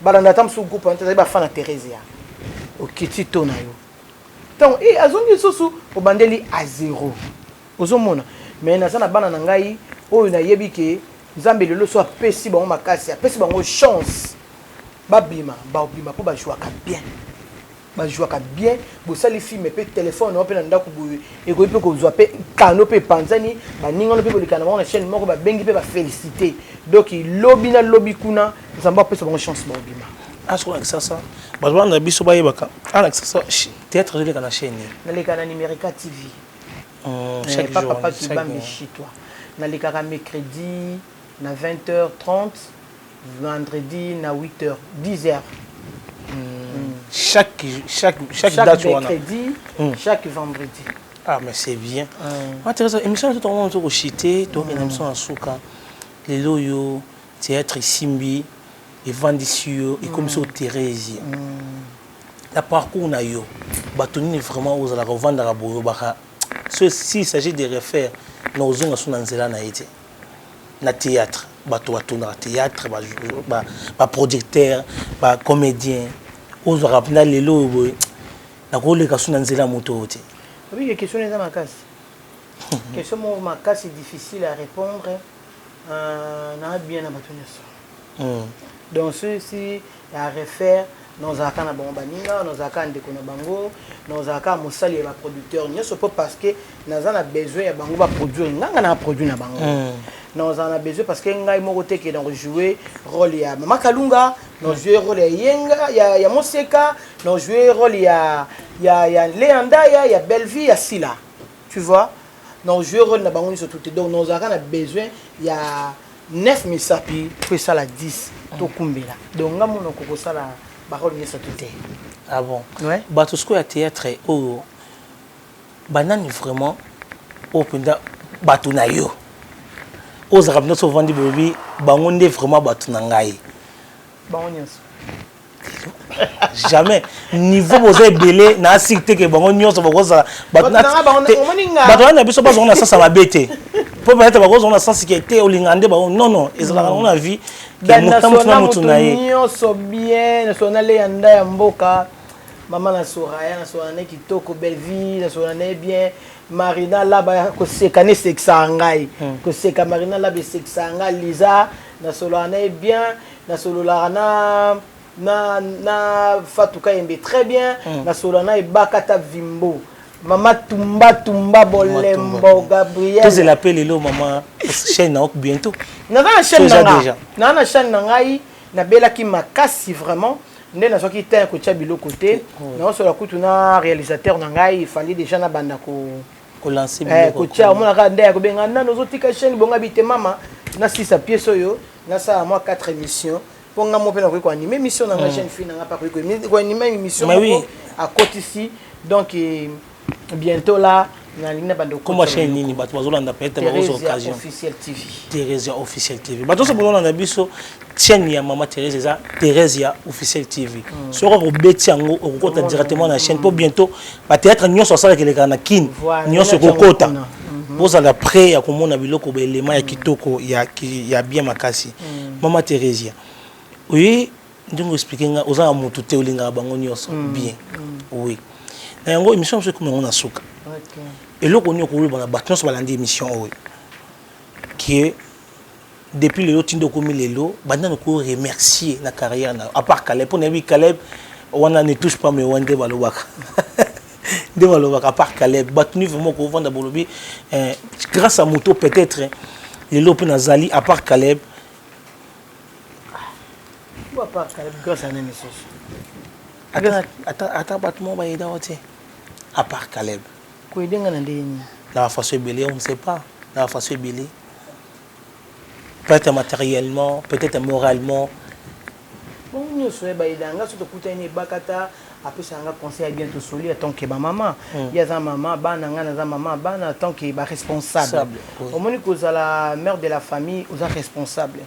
balanda ata mosusu groupe wana te ezali bafana theresia okiti to na yo ntango e eh, azongi lisusu obandeli a zero ozomona me naza na bana na ngai oyo nayebi ke nzambe lelo so apesi bango makasi apesi bango chance babima babima mpo bajouaka bien ba jouaka bien bosali film pe telephone na yo pe na ndako boye ekoki pe kozwa pe kano pe epanzani baninga wana pe bolekana na bango na chaîne moko babengi pe ba felicite donc lobi na lobi kuna nzambe apesa bango chance baobima asokola kisasa bato bana na biso bayebaka ana kisasa théâtre ezoleka na chaîne nini naleka na numerica tv oh, eh, chaque jour papa kibambi chitwa nalekaka mercredi na 20 heures 30 vendredi na 8 heures 10 heures chaque chaque chaque chaque date wana mercredi Hmm. chaque vendredi ah mais c'est bien Hmm. ma teresa émission na biso tokomona tozo koshite tokokende na biso na suka lelo oyo théâtre esimbi evandisi yo ekomisi yo therese na parcours na yo bato nini vraiment ozalaka ovandaka boye obaka so s'il s'agit de refaire na ozonga so na nzela na ye te na theatre bato batunaka theatre ba projecteur ba comedien ozwaka mpena lelo oyo boye nakoleka su na nzela ya moto oyo te obike question eza makasi question moko makasi difficile à répondre euh, na bien na bato nyonso Donc ceux ci ya refaire na ozala kaka na bango baninga na ozala kaka ndeko na bango na ozala kaka mosali ya ba producteur nionso po parce que naza na besoin ya bango ba produire nga nga na produit na bango na ozala na besoin parce que ngai moko te ke na ko jouer role ya mama kalunga na ojouer role ya yenga ya ya moseka na ojouer role ya ya ya lea ndaya ya bellevue ya sila tu vois na ojouer role na bango nionso tout te donc na ozala kaka na besoin ya 9 misapi to esala 10 to kumbela donc nga mono ko kosala ba role nyoso to te ah bon ouais bato siko ya théâtre oyo oh, banani vraiment oyo oh, mpenza bato na yo ozalaka mpenza so ovandi bolobi bango nde vraiment bato na ngai bango nyonso jamais niveau boza ebele na asiki te ke bango nyonso bakozala bato wana na biso bazonga na sasa mabe te mpo peut-être bakozonga na sasi ke te olinga nde bango non non ezalaka nango na vie moto motu na motu na ye nyonso bien nasola na leya nda ya mboka mama na soraya nasola na ye kitoko bellevie nasola na ye bien marina laba koseka na esekisaka ngai hmm. koseka marina laba esekisaka ngai liza nasolaka na ye bien Na sololaka na na na Fatou Kayembe très bien mm. na solola na Ebakata Vimbo Mama Tumba Tumba Bolembo Gabriel. Tous la paix lelo mama chaîne na ok bientôt. Na na chaîne na nga. Na na chaîne na ngai na bela ki makasi vraiment. nde nazwaki temps ya kotya biloko te naosola kutu na réalisateur na ngai ifali déjà na banda ko eh, kotia omona kaka nde ya kobenga nano ozotika chaine bonga bite mama na sisa pièce oyo nasala mwa 4 émission mpo nga mo mpe nakoki koanime émission na nga jeune fille na nga mpe akoki koanime émission moko akotisi donc eh, bientôt là nalingi na bando koma chaîne nini bato bazolanda peut-être bakozwa occasion officiel tv theresia officiel tv bato nyonso bololanda biso chaine ya mama Therèse eza Therèse ya officiel TV mm. soki ako beti yango okokota oh, directement na chaîne po bientôt ba théâtre nyonso asala keleka na Kin nyonso okokota bozala mm. près ya komona biloko ba élément ya mm. kitoko ya ya bien makasi mm. mama Theresia oui ndenge expliquer nga oza na mutu te olingaka bango nyonso mm. bien mm. oui na yango émission mosusu ekomi yango na suka okay. eloko nini okoloba na bato nyonso balandi émission oyo kie Depuis lelo tinda okomi lelo banda na ko remercier na carrière na yo à part Caleb pona yebi Caleb wana ne touche pas mais wana nde balobaka nde balobaka à part Caleb bato ni vraiment kovanda bolobi eh, grâce à moto peut-être lelo mpe nazali à part Caleb à part Caleb grâce à nani lisusu ata bato moko bayeda yo te à part Caleb koyedenga na ndenge nini na bafaso ebele on ne sait pas na bafaso ebele peut etre materiellement peut etre moralement bango nioso ya ba aidaka nga soki tokutani na ebakata apesaka nga conseil ya bien tosoli en tant que ba mama ye aza mama ya bana nga naza mama ya bana en tant que ba responsable omoni kozala mère de la famille oza responsable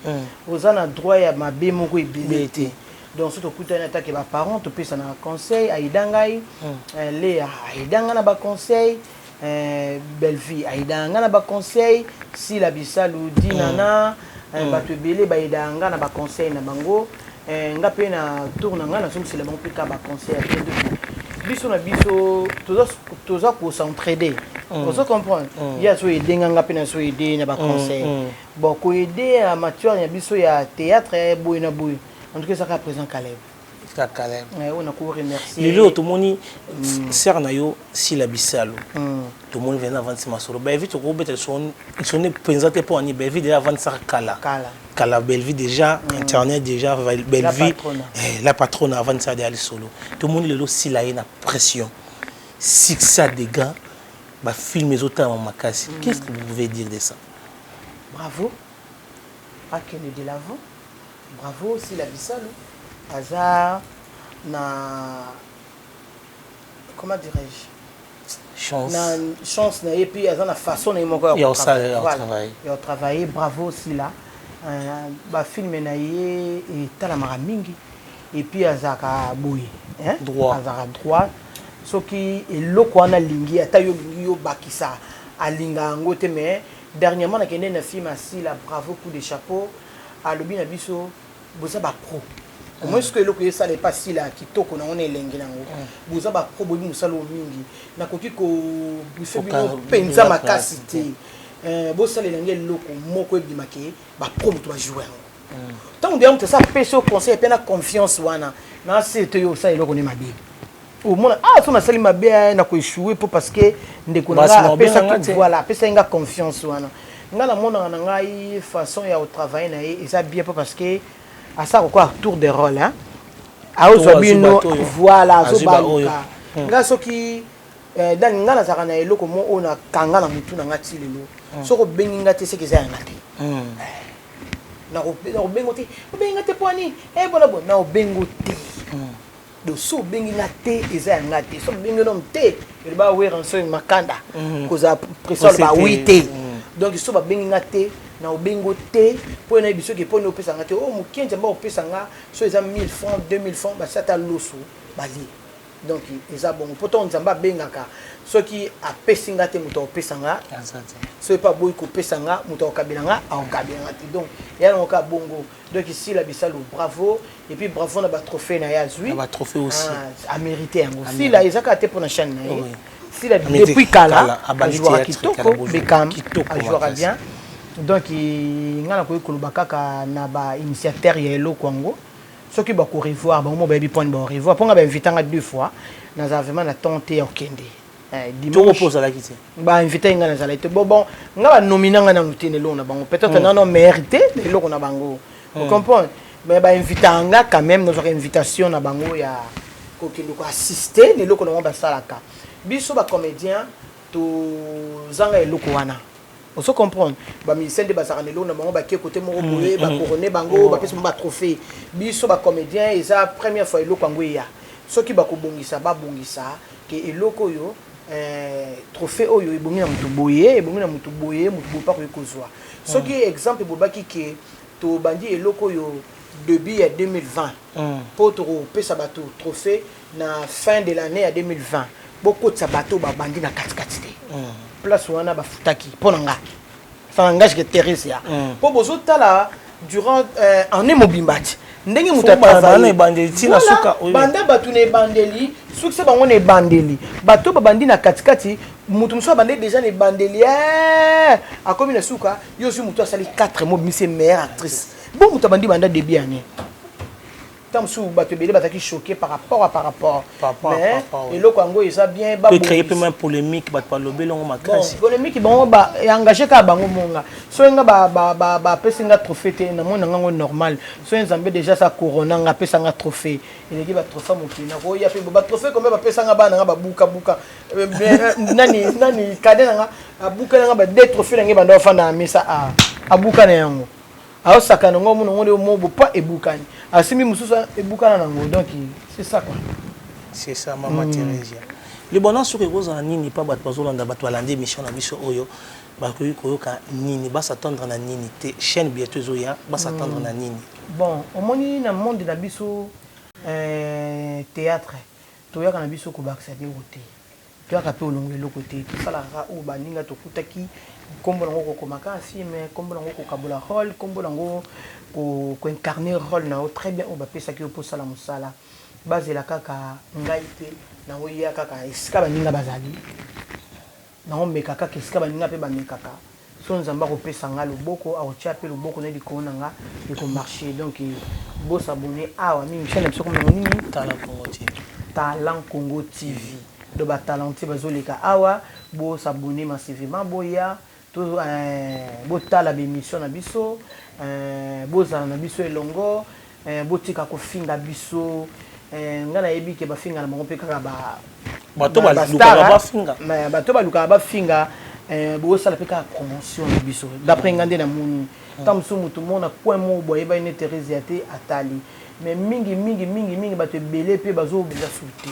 oza na droit ya mabe moko ebele te donc soki tokutani en tant que ba parents topesanaka conseil aida ngai Lea aida nga na ba conseil Eh, Bellevue aidaka nga na ba conseil Sila Bisalu Dinana mm. eh, mm. bato ebele baidaka nga na ba conseil na bango eh, nga mpe na tour na nga nazongisela bango mpe ka ba conseil ya bien biso na biso toza kocentrede mm. ozo comprendre mm. ye azo ede nga nga mpe nazo ede na ba mm, conseil bon koede ya matière ya biso ya théâtre boye na boye en tout cas ezaka présent calebe lelo oyo tomoni mm. sere na yo sila bisalu mm. tomoni vraimen avandisi masolo belvi tokobeta lisone mpenza te mpo ani belvi deja avandisaka kala kala belvi deja mm. internet deja belvi la patrone eh, avandisaka deja lisolo tomoni lelo sila ye na pression succès ya degan bafilme ezotalama makasi qu'est ce que vous pouvez dire de ça bravo akende de l'avant Bravo sila bisalu aza na comment dirais je chance. na chance na ye puis aza na façon na ye moko ya kotravaille bravo sila euh, bafilme na ye etalamaka mingi epuis azalaka boye azalaka droit soki eloko wana alingi ata yo olingi yo obakisa alinga yango te mais dernièrement nakende na film asila bravo coup de chapeau alobi na biso boza ba pro omoni sikoyo eloko esala epa sila ya kitoko nango na elengi na yango boza ba pro boyebi mosala oyo mingi nakoki ko briefe bino mpenza makasi te eh, bosalela nge eloko moko ebima ke ba pro moto bajoue yango ntango deya moto esi apesi yo conseil mpe na confiance wana na se te yo osala eloko nde mabe omona ah so nasali mabe eh, na koechoue mpo parce que ndeko na ngai apesaki voilà apesaki ngai confiance wana ngai namonaka na ngai façon ya kotravaille na ye eza bien mpo parce que asala kokoa tour de rôle hein aozwa bino voilà azobaluka hmm. ngai soki eh, dani ngai nazalaka na eloko mo oyo nakanga na motu na ngai ti lelo hmm. soki obengi ngai te seke eza yanga te hmm. eh, nakobengo te obengi ngai te mpo ani ebona eh, bo naobengo te donc so obengi nga te eza ya nga te so obengi nom te eloba weranson makanda mhm. kozala pression aloba wi te mhm. donc so babengi nga te na obengo te mpo ye nayebi soki eponi opesa nga te o oh, mokenzi amba opesa nga so eza 1000 francs 2000 francs basi ata loso balie donc eza bongo mpo ntango nzambe abengaka soki apesi nga te moto akopesa nga soki mpe aboyi kopesa nga moto akokabela nga akokabela nga te donc eya nango kaka bongo Donc Sila Bisalu bravo et puis bravo na ba trophées na ye azui. Na ba trophées aussi. Ah, a mérité yango. Sila eza kaka te pona chaîne na ye. Oui. Sila depuis kala ajouaka kitoko Beckham ajouaka bien. Donc nga na koki koloba kaka na ba initiateur ya eloko yango soki bako revoir bango mo bayebi point bao revoir mpo nga ba invitanga deux fois nazala vraiment na temps te ya kokende Eh, dimanche po ozalaki te ba invité nga nazalaki te bon bon nga ba nomina nga nanu te na eloko na bango peut-être mm. nano mérité na eloko na bango mm. comprendre mais ba invité nga quand même nazwaka invitation na bango ya kokende ko assister na eloko na bango basalaka biso ba comédien tozanga eloko wana ozo comprendre bamisien nde bazalaka na eloko na bango bakie kote moko mm, boye mm. bakorone bango bapesi bango batrophée biso bacomédien eza première fois eloko yango eya soki bakobongisa babongisa Que eloko oyo eeh trophee oyo ebongi na mutu boye, ebongi na mutu boye, mutu boye pe akoki kozua. Soki exemple ebobaki que tobandi eloko oyo debut ya 2020 po tokopesa batu trophee na fin de l'annee ya 2020, bokotisa batu oyo babandi na kati kati te. Place wana bafutaki po na nga. ça n'engage que Theresia mm. po bozo tala durant euh, année mobimba ti ndenge moto azali ebandeli ti na suka banda bato na ebandeli soki se bango na ebandeli bato babandi na katikati moto mosusu abandeli déjà na ebandeli eh, akomi na suka yo ozwi moto asali 4 mois bimisi meilleure actrice bo moto abandi banda début année temps mosusu bato ebele bazalaki choqué par rapport à par rapport mais eloko yango eza bien créer mpe mwa polémique bato balobeli yango makasi polémique bango engagé kaka bango monga soki nga bapesi nga trophée te namoni na ngango normal soki nzambe déjà sa corona nga apesa nga trophée eleki batrophée mokili nakoya mpe batrophée kombe bapesa nga bana nga babukabuka euh, euh, nani nani kade na nga abuka na nga ba deux trophée na ngai banda bafanda na mesa abuka na yango Azo sakana ngo muno ngo mo bo pa ebukani. Asimbi mususu ebukana na ngo donc c'est ça quoi. C'est ça maman mm. Theresia. Libona soki ekozala nini pa bato bazolanda bato balandi émission na biso oyo bakoki koyoka nini basatendre na nini te chaîne bientôt ezoya basatendre mm. na nini bon omoni na monde na biso euh, théâtre toyaka na biso kobakisa te oyo te Toyaka mpe olongola eloko te, tosalaka kaka oyo baninga tokutaki, nkombo na yango kokoma kaka film, nkombo na yango kokabola role, nkombo na yango ko incarner role na yo très bien oyo bapesaki yo mpo osala mosala. Bazela kaka ngai te, na yango ya kaka esika baninga bazali, na yango meka kaka esika baninga mpe bamekaka. Soki Nzambe akopesa nga loboko, akotia pe loboko naye likolo na nga, eko marcher donc bo s'abonner awa nini chaine na biso ekombo nango nini? Talent Congo TV. Talent Congo TV donc ba talentueux bazo leka awa bo s'abonner massivement boya to eeh botala ba emissions na biso eeh bozala na biso elongo Eh botika kofinga biso eh nga nayebi ke bafinga na bango mpe kaka ba bato balukaka bafinga mais bato balukaka bafinga eh, bosala mpe kaka promotion na biso d'après nga nde namoni ntango mosusu moto moko na coin moko boye ayebaki ne theresia te atali mais mingi mingi mingi mingi bato ebele mpe bazobenza suki te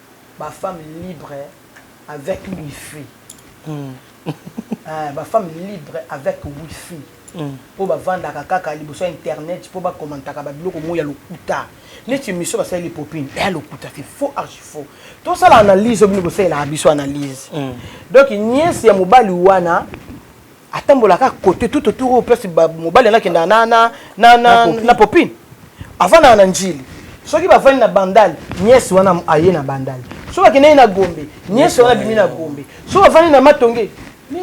ba femmes libre avec wifi ba femmes libre avec wifi po ba vandaka kaka liboso ya internet po ba commentaka ba biloko moko ya lokuta neti emission ba saleli popine eya lokuta c'est faux archi faux to sala analyse bino bo salelaka biso analyse donc niece ya mobali wana atambolaka kote tout autour oyo place mobali anakenda na, na, na, na, na popine avandaka na njili soki bavandi na bandali niese wana aye na bandali soki akendaki na gombe niese wana abimi na gombe soki avandi na matonge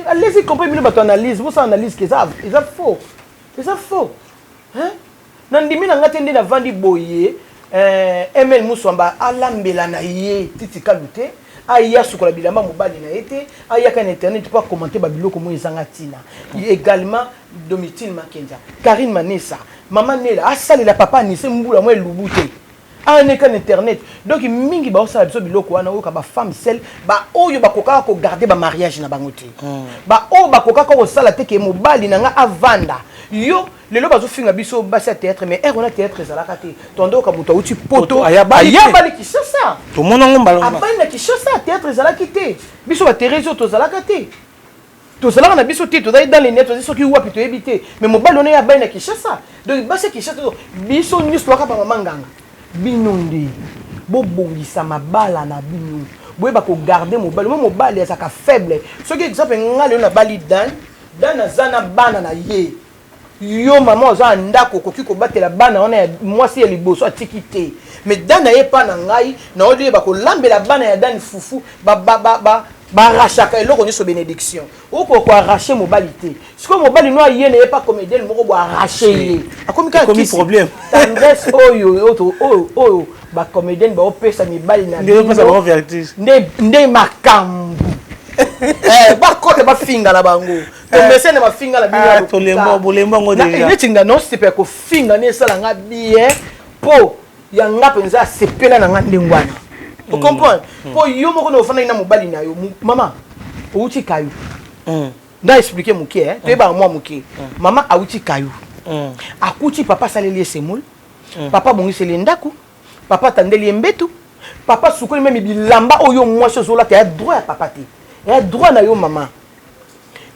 alesi comprendre bino bato analyse bosala analyse ke eza faux eza faux hein? Na ndimi na nga te nde na vandi boye eh, ML Muswamba alambela na ye Titi Kalu te, aya asukola bilamba ya mobali na ye te, ayaka na internet po a commenter ba biloko moye ezanga tina. Egalement Domitille Makenza, Carine Manessa, Mama Nella asalela Papa Anise mbula mwa elubu te. Aneka na internet. Donc mingi bazo sala biso biloko wana oyoka ba femmes seules ba oyo ba kokaka ko garder ba mariages na bango te. Ba oyo ba kokaka ko sala te ke mobali na nga avanda yo Lelo bazo finga biso basi ya théâtre mais heure wana théâtre ezalaka te. Tondoka moto auti poto ayabali ayabali Kinshasa. Tomona ngo mbala wana. Abali na Kinshasa théâtre ezalaki te. Biso ba Thérèse oyo tozalaka te. Tozalaka na biso te tozali dans les net tozali soki wapi toyebi te mais mobali wana ye abali na Kinshasa. Donc basi ya Kinshasa biso nyonso toyaka ba mama nganga. Bino nde bobongisa mabala na bino boyeba ko garder mobali mo mobali azalaka faible soki exemple ngai lelo nabali dane dane aza na bana na ye Yo maman oza na ndaku okoki ko batela bana wana ya mwasi ya liboso atiki te mais dan naye epa na ngai na yo de bako lambela bana ya dan fufu ba ba ba ba arrachaka eloko nioso benediction oko ko arracher mobali te sikoyo mobali no aye naye epa comedienne moko bo arracher ye akomi kaka kisi problème tendresse oyo oyo oyo oyo ba comedienne ba opesa mibali na nde opesa ba vertige nde nde makambu eh ba kota ba finga na bango tomesene mafinga na bino ya tolembo bolembo yango deja neti nga non sepe ya kofinga nde esala nga bien mpo ya nga mpenza asepela na nga ndenge wana mm. ocomprendre mpo mm. yo moko na ofandaki na mobali na yo mama outi kayo mm. na explike moke eh, toyebaka mwa moke mama auti kayo akuti papa asaleli ye semoule papa abongiseli ye ndako Papa atandeli ye mbetu. Papa asukoli meme bilamba oyo mwasi ozolata ya droit ya papa te. Ya droit na yo mama.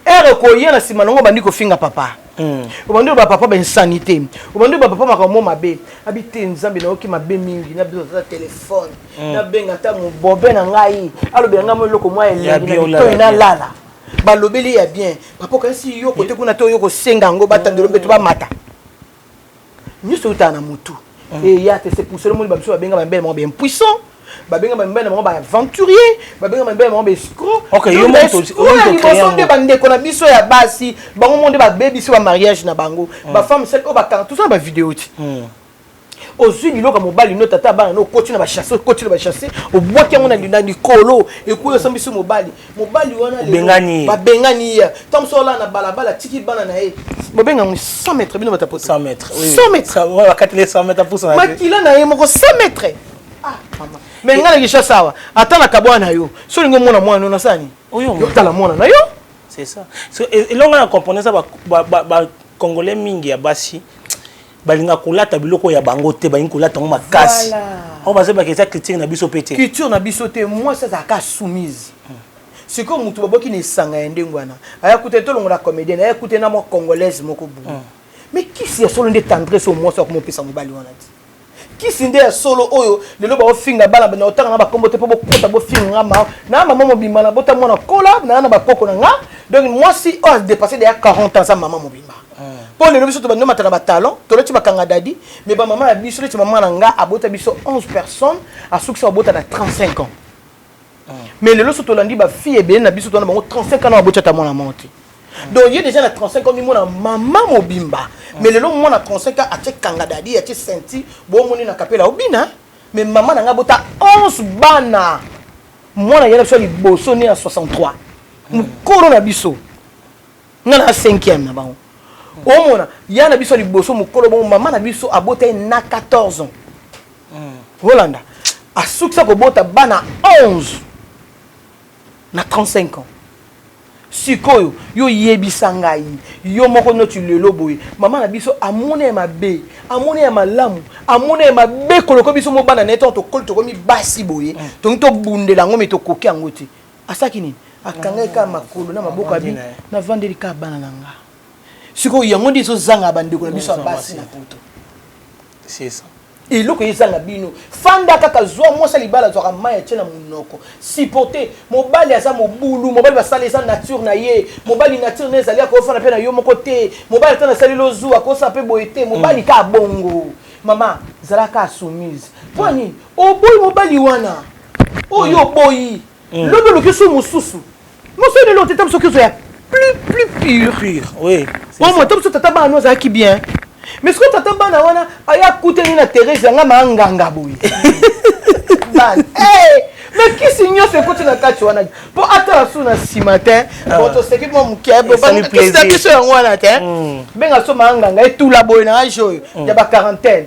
Heure ekoya na nsima na ngo obandi kofinga papa. Mm. Obandi ba papa ba insanité. Obandi ba papa makambo mabe. Abi te nzambe nayoki mabe mingi na biso za téléphone. Mm. Na benga ta mobobe na ngai. Alobela ngai mo eloko mwa elengi na bitoi na lala. Balobeli ya bien. Papa kasi yo kote kuna to yo kosenga ngo batandelo mbetu bamata. nyoso eutaka na mutu eya te c'est pour cela omoni bamisusu babenga bamibele bango baimpuissant babenga bamibele bango baaventurier babenga bamibele bango baescro ya liboso nde bandeko na biso ya basi bango mo nde babebisi bamariage na bango bafemme sel oyo bakanga toza na bavideo ti ozwi biloko ya mobali no tata abana no okoti na bachasse okoti na bachasse obwaki yango na likolo ekoyo osambisi mobali mobali wana bengani babengani ye ntango mosusu olaa na balabala atiki bana na ye bobenga yango 100 mètre bino batapo 100 mètre 100 mètre bakateli 100 mètre apusa makila na ye moko 100 mètre ah mama me ngai na kinshasa awa ata na kabwana na yo so olingi omona mwana yo nasala nini otala mwana na yo c'est ça elonga na comprendre eza bacongolais mingi ya basi balingaka kolata biloko ya bango te balingi kolata yango makasi oyo bazobaka eza culture na biso mpe te culture na biso te mwasi azalaka soumise sikoyo motu baboki na esanga ya ndenge wana aya kuta tolongola comédienne aya kuta na mwa congolaise moko boye hmm. mais kisi ya solo nde tendresse oyo mwasi akoma opesa mobali wana ti kisi nde ya solo oyo lelo baofinga bana na otanga na bakombo te mpo bokota bofinga nga mama na mama mobimba na bota mwana kola na na bakoko na nga donc mwasi oyo adepasse deya 40 ans aza mama mobimba mpo lelo biso tobandi omata na batalon tolati bakanga dadi me bamama ya biso neti mama na nga abota biso 11 personnes asukisa babota na 35 ans mais lelo so tolandi bafille ebele na biso tona bango 35 ans na baboti ata mwana moko te donc ye déjà na 35 ans mimona mama mobimba mais lelo mwana 35 ans atie kanga dadi atie senti bomoni na kapela obina mais mama na ngai abota 11 bana mwana ya na biso ya liboso ne ya 63 mokolo na biso nga na cinquième na bango omona ya na biso liboso mokolo bongo mama na biso abota ye na 14 ans hmm. olanda asukisa kobota bana 11 na 35 ans sikoyo yo yebisa ngai yo moko noti lelo boye mama na biso amona ye mabe amona ye malamu amona ye mabe koloko biso mo bana na ye ntango tokoli tokomi basi boye hmm. tongi tobundela yango me tokoki yango te asaki nini akangai kaka makolo na maboko abi navandeli kaka bana na nga sikoyo yango nde ezozanga bandeko na biso ya basi na poto eloko ezanga bino fanda kaka zwa mwasi ya libala azwaka mai atie na monoko supporte mobali aza mobulu mobali basala eza nature na ye mobali nature na ezali akofana mpe na yo moko te mobali ata nasaleli ozu akosala mpe boye te mobali mm. kaka bongo mama zalaka soumise mpo nini oboyi mobali wana oyo oboyi mm. lobi oluki su mosusu mosoni lelo oteta biso kizo ya plus plus pure pure oui bon moi to biso tata bana no azalaki bien mais soki tata bana wana aya kutani na Therese yanga ma nganga boye bana eh mais kisi nyonso ekoti na kati wana mpo atala su na nsima te ah. bon toseki mwa moke kisi na biso yango wana te mm. benga so maanganga etula boye na age oyo mm. ya baquarantaine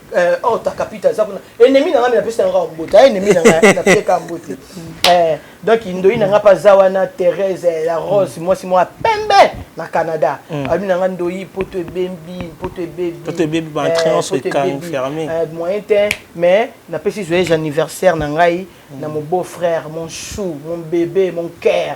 eh, oh takapita aza kuna ennemi na ngai napesi na ngai mbote a ennemi na ngai napesaka mbote eh, donc ndoi na ngai mpe aza wana therese eh, la rose mm. mwasi mwa pembe na canada mm. abi na ngai ndoi poto ebembi poto ebebienmoyen te mais napesi joyeux anniversaire na ngai mm. na mon beau frère mon chou mon bébé mon cœur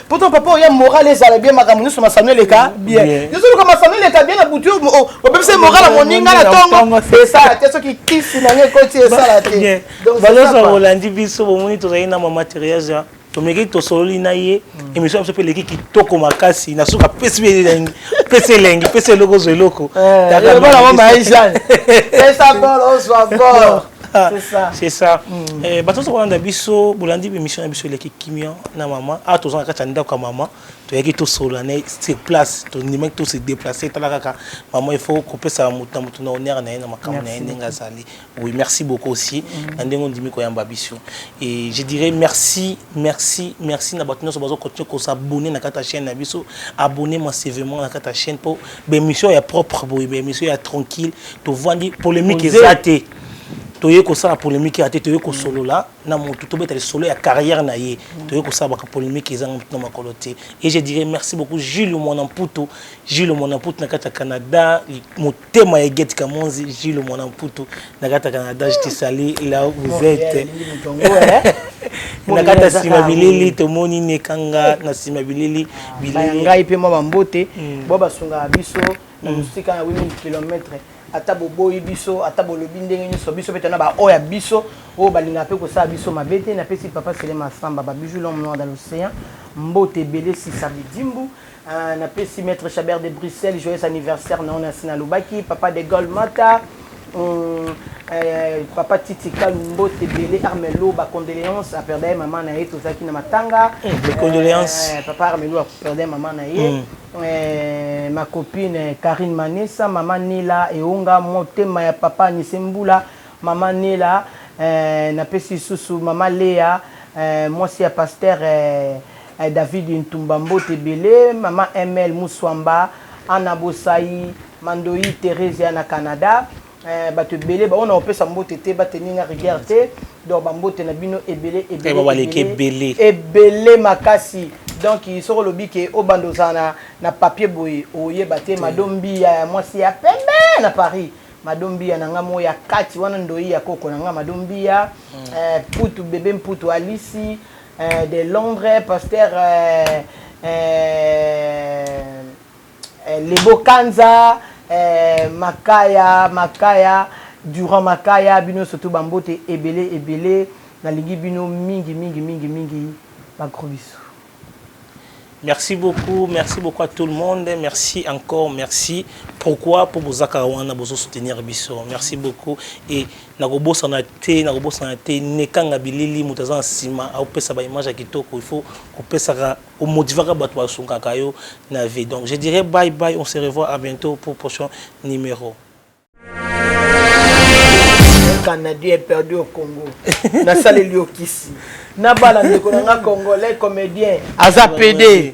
poto papa oya moral ezala bien makambo nyonso masano eleka bien ezoluka masano eleka bien na butu obebisa moral ya moninga na ntongo esala te soki kisi na ngai ekoti esala te baloso olandi biso bomoni tozali na mamaterias ya tomeki tosololi na ye mm. émission ya biso mpe eleki kitoko makasi na suka pesi elengi pesi elengi pesi eloko ozwa eloko eh, Ah, c'est ça c'est ça mm. eh, bato ozo kolanda biso bolandi émission na biso eleki kimia na mama awa ah, toza na kati ya ndako ya mama toyaki tosolola na sur place tondimaki tose déplace tala kaka mama il faut kopesa moto na moto na honneur na ye na makambo na ye ndenge azali oui merci beaucoup aussi mm. na ndenge ondimi koyamba biso et je dirais merci merci merci na bato nyonso bazo continue kosabonne na kati ya chaîne na biso abonne massivement na kati ya chaîne mpo ba emission ya propre boye ba emission ya tranquille tovandi polemique eza te toye kosala polemique ya te toye kosolola na motu tobeta lisolo ya carrière na ye toye kosala baka polemique ezanga motu na makolo te et je dirais merci beaucoup jules mwana mputu jules mwana mputu na kati ya canada motema ya egeti kamonzi jules mwana mputu nakataka na dash tisali la vous êtes nakata nsima bilili tomoni nekanga na nsima bilili bilili ngai mpe mwa bambote mm. bo basungaka biso na mm. mosika na 8000 kilometre ata boboyi biso ata bolobi ndenge nyonso biso mpe tona baoyo ya biso oyo balingaka mpe kosala biso mabe te napesi papa selema asamba babiju l'homme noir dans l'océan mbote ebele sisa bidimbu Ah, na pesi maître Chabert de Bruxelles joyeux anniversaire na ona sina lobaki papa de Gaulle Mata hum, eh, papa Titi Kalumbo Tebele Armelo ba condoléances à perdre maman na ye tozaki na matanga eh, les condoléances eh, papa Armelo a perdre maman na ye mm. eh, ma copine Karine Manessa maman Nela Eonga motema ya papa Nisembula maman Nela eh, na pesi susu maman Lea eh, mwasi ya pasteur eh, David Ntumba mbote ebele, maman ML Musuamba, Anna Bosayi, ma ndoyi Theresia na Canada, eh, batu ebele baona opesa mbote te ba tenir nga rigueur te, donc ba mbote na bino ebele ebele ebele ebele makasi, donc soki olobi ke obanda ozala na na papier boye oyeba te, mado mbiya ya mwasi ya pembe na Paris, mado mbiya na nga moko ya kati wana ndoyi ya koko na nga mado mbiya, eh, mputu bebe mputu alisi Eh de Londres pasteur eh, eh, Lebo Kanza eh, Makaya Makaya Durant Makaya bino surtout bambote ebele ebele nalingi bino mingi mingi mingi mingi ba gros bisous. Merci beaucoup merci beaucoup à tout le monde merci encore merci pourquoi mpo boza kaka wana bozo soutenir biso merci beaucoup et nakobosana te nakobosana te nekanga bilili moto aza na nsima aopesa ba image ya kitoko il faut kopesaka omotivaka bato basungaka yo na vie donc je dirais bye bye on se revoit à bientôt pour prochain numéro canadien est perdu au congo nasaleli yo kisi nabala ndeko na nga congolais comédien aza pede